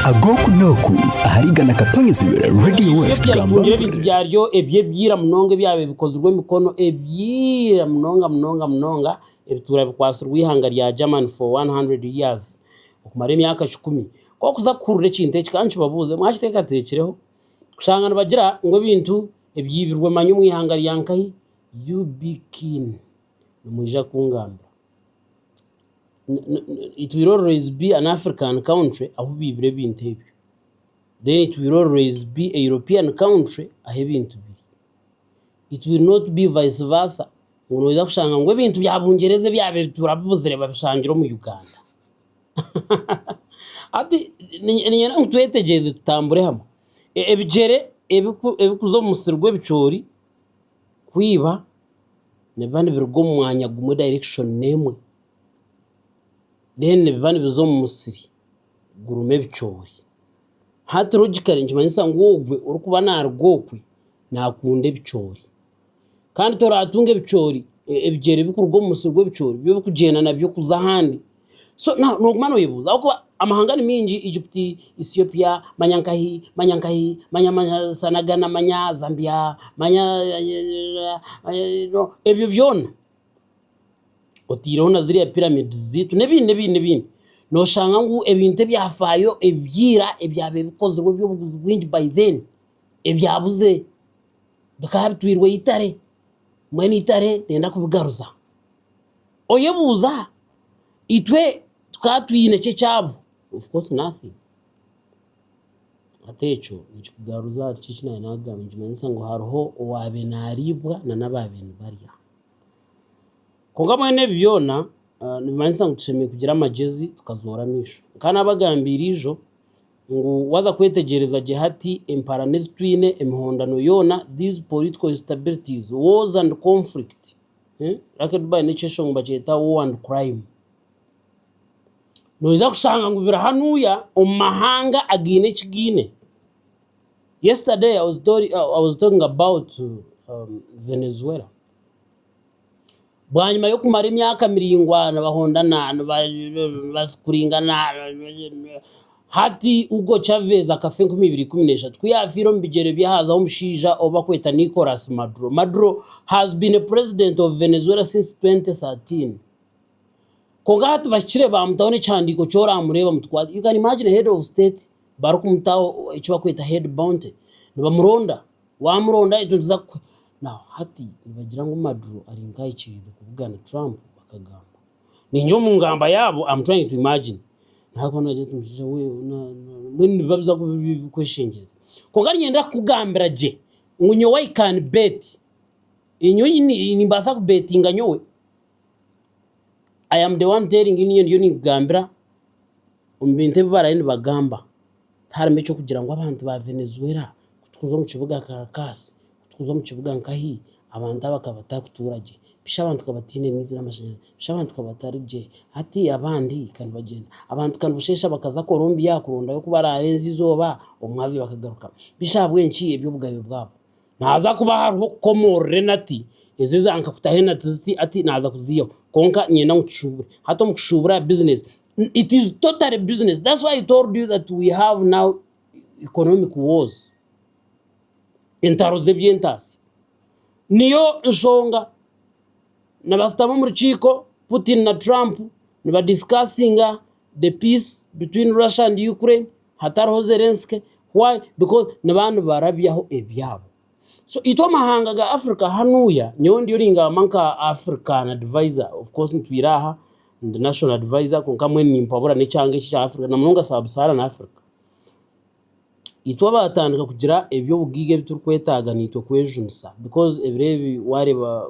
ag'oku n'oku ahari igana katonyezibwe Radio Eishe West Gambobwe. ryayetungire ebintu byaryo eby'ebyira munonga ebyabire bikozirwe emikono ebyira munonga munonga munonga ebituura bikwatsirwe eihanga rya Germany for 100 years okumara emyaka kikumi k'okuza kuhurira ekintu eki kankibabuuze mwakiteekateekireho kushanga nibagira ngu ebintu ebyibirwe manya omu ihanga rya nkahi UB Keen nimwija kungambira. It will always be an African country ahu baibire ebintu ebyo. Then it will always be a European country ahu ebintu biri. It will not be vice versa ngu noija kushanga ngu ebintu bya Bungyereza ebi ab'ebituura bibuzire babishangire omu Uganda. Hati niinyenda ngu twetegyereze tutambure hamwe. Ebigyere ebikuza omu musiri gw'ebicoori. kwiba nibiba nibiruga omu mwanya gumwe dayirekishoni emwe deni nibiba nibiza omu musiri gurimu ebicoori. Hati logikare nikimanyisa ngu ogwe orikuba naaruga okwe naakunda ebicoori. Kandi toraatunga ebicoori ebigyere birikuruga omu musiri gw'ebicoori byo orikugyenda nabyo kuza ahandi. So now noguma noyebuuza ahabw'okuba amahanga ni maingi Egypt, Ethiopia, manya nkahi manya nkahi manya manya sana Ghana manya Zambia manya ebyo byoona otaireho na ziriya pyramids zaitu n'ebindi n'ebindi n'ebindi noshanga ngu ebintu ebyafaayo ebyaira ebyabaire bikozirwe eby'obuguzi bwingi by then ebyabuze bikaba bitwairwe eitare mbwenu eitare nenda kubigaruza. Oyebuuza aha, itwe tukaba twine ki ekyaabo? Of course nothing. Hati ekyo nikikugaruza ahari ki eki naabaire naakugambira, nikimanyisa ngu hariho owaabaire naariibwa na n'abaabaire nibarya. Kwonka mbwenu ebi byona nibimanyisa ngu tushemereire kugira amagyenzi tukazoora amaisho. Nkaba naabagambiire eijo ngu waaza kwetegyereza gye hati emparaano ezi twine, emihondano yoona, these political instabilities, wars and conflict. Lucky Dube aine eki ekishonga nibakyeta War and Crime. Noija kushanga ngu biri hanuuya omu mahanga againe eki gaine. Yesterday I was talking about Venezuela. Bwanyima y'okumara emyaka miraingwa nibahondana, nibakuringana. Hati, Hugo Chavez akafa enkumi ibiri ikumi n'eshatu ku yaafiire omu bigyere by'ahaaza h'omushaija ou bakweta Nicolas Maduro. Maduro has been a president of Venezuela since 2013. Kwonka hati bahikire baamutaho n'ekihandiiko ky'oraamureeba mutukwate. You can imagine a head of state barikumutaho eki bakweta head bounty. Nibamuronda, waamuronda itwe nituza kukuha. Now, hati nibagira ngu Maduro ari nk'ahikiriize kubugana Trump, bakagamba. Nainga omu ngamba yaabo am trying to imagine nagwa nagira ati mushaija we na na mbwenu nibiba biza kuba biri ebikweshengyereza. Konka niinyenda kukugambira gye ngu nyowe I can bet, nyowe nyine nimbaasa kubetinga nyowe, I am the one telling you niinye ndiyo ninkugambira omu bintu ebi barabe nibagamba. Tiharimu eky'okugira ngu abantu ba Venezuela kutukuza omu kibuga Caracas, kutukuza omu kibuga nkahi, abantu abo bakaba batarikutuura gye. Bishi abantu bakaba bataine maizi n'amashanyarazi. Bishi abantu bakaba batari gye. Hati abandi ka nibagyenda. Abantu ka nibasheesha bakaza Colombia kurondayo oku baraarenza eizooba, omwabazyo bakagaruka. Bishi ahabw'enki? Eby'obugabe bwabo. Naaza kuba hariho okukomoorora enati, ezi eza nka kutaho enati ziti ati naaza kuziihaho kwonka niinyenda ngu tushuubure. Hati omu kushuubura bizinesi, it is totally business that's why i told you that we have now economic wars, entaro z'eby'entaasi. Niyo nshonga nibashutama omu rukiiko Putin na Trump nibadisikaasinga. the peace between Russia and Ukraine hatariho Zelensky why because niba nibarabyaho ebyabo so itwe amahanga ga Africa hanuya nyowe ndiyo ningamba nka African advisor of course nitwira aha ndi national advisor kwonka mbwenu nimpabura n'ekyanga eki ekya Africa na munonga sub Saharan Africa, itwe abatandika kugira eby'obugiga ebi turikwetaaga nitwe kwejunisa because ebiro ebi wareba.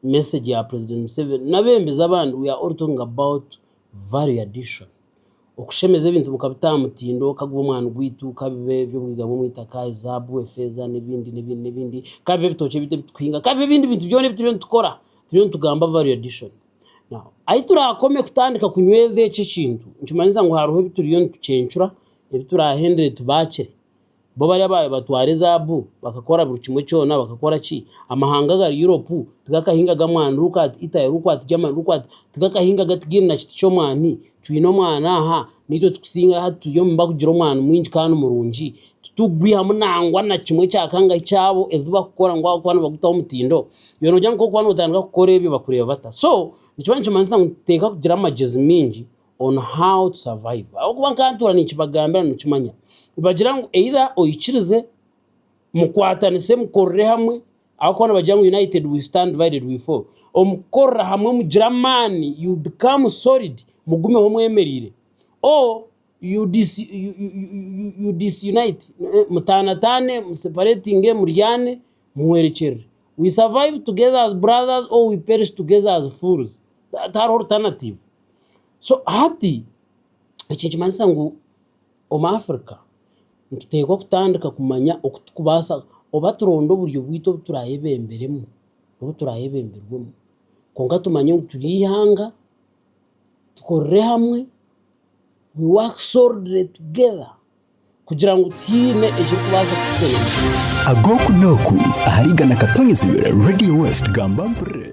message ya president museveni nabembezi abandi we are all talking about value addition okushemeza ebintu mukabita aha mutindo kaguba omwani gwaitu kabibe ebyobwiga bwomwitaka ezabu efeza nebindi nebindi nebindi kabibe ebitookye bitu ebitukuhinga kabibe ebindi bintu byona ebituriyo nitukora turiyo nitugamba value addition now ahi turakome kutandika kunyweza ekyo ekintu nikimanyisa ngu hariho ebituriyo nitucencura ebiturahendere tubaakire Bo bari abaabaire nibatwara ezaabu bakakora buri kimwe kyona bakakora ki? Amahanga agari Europe tigakahingaga mwani riri kwati, Italy riri kwati, Germany riri kwati tigakahingaga tigaine na kiti ky'omwani. Twine omwani aha, naitwe tukusinga hati turi omu bakugira omwani mwingi kandi murungi. Titurikugwihamu nangwa na kimwe kya kangahi kyabo ezi bakukora ngu ahabw'okuba nibagutaho omutindo. Iwe noogira ngu kwori waatandika kukora ebyo bakureeba bata? So, nikiba nikimanyisa ngu titekakugira amagyezi maingi on how to survive ahabw'okuba nkantuura ninkibagambira nimukimanya nibagira ngu either oikirize, mukwatanise mukorere hamwe ahabw'okuba nibagira ngu united we stand divided we fall, omu kukorera hamwe mugira amaani you become solid mugumeho mwemereire or you disunite mutaanataane museparatinge muryaane muhwerekyerere we survive together as brothers or we perish together as fools, hati hariho alternative. So hati eki nikimanyisa ngu omu Africa nituteekwa kutandika kumanya oku turikubaasa oba turonde oburyo bwaitu obu turayebemberemu obu turayebemberwemu kwonka tumanye ngu turi eihanga tukorere hamwe we work solidly together kugira ngu twine ekirikubaasa kutukoresa.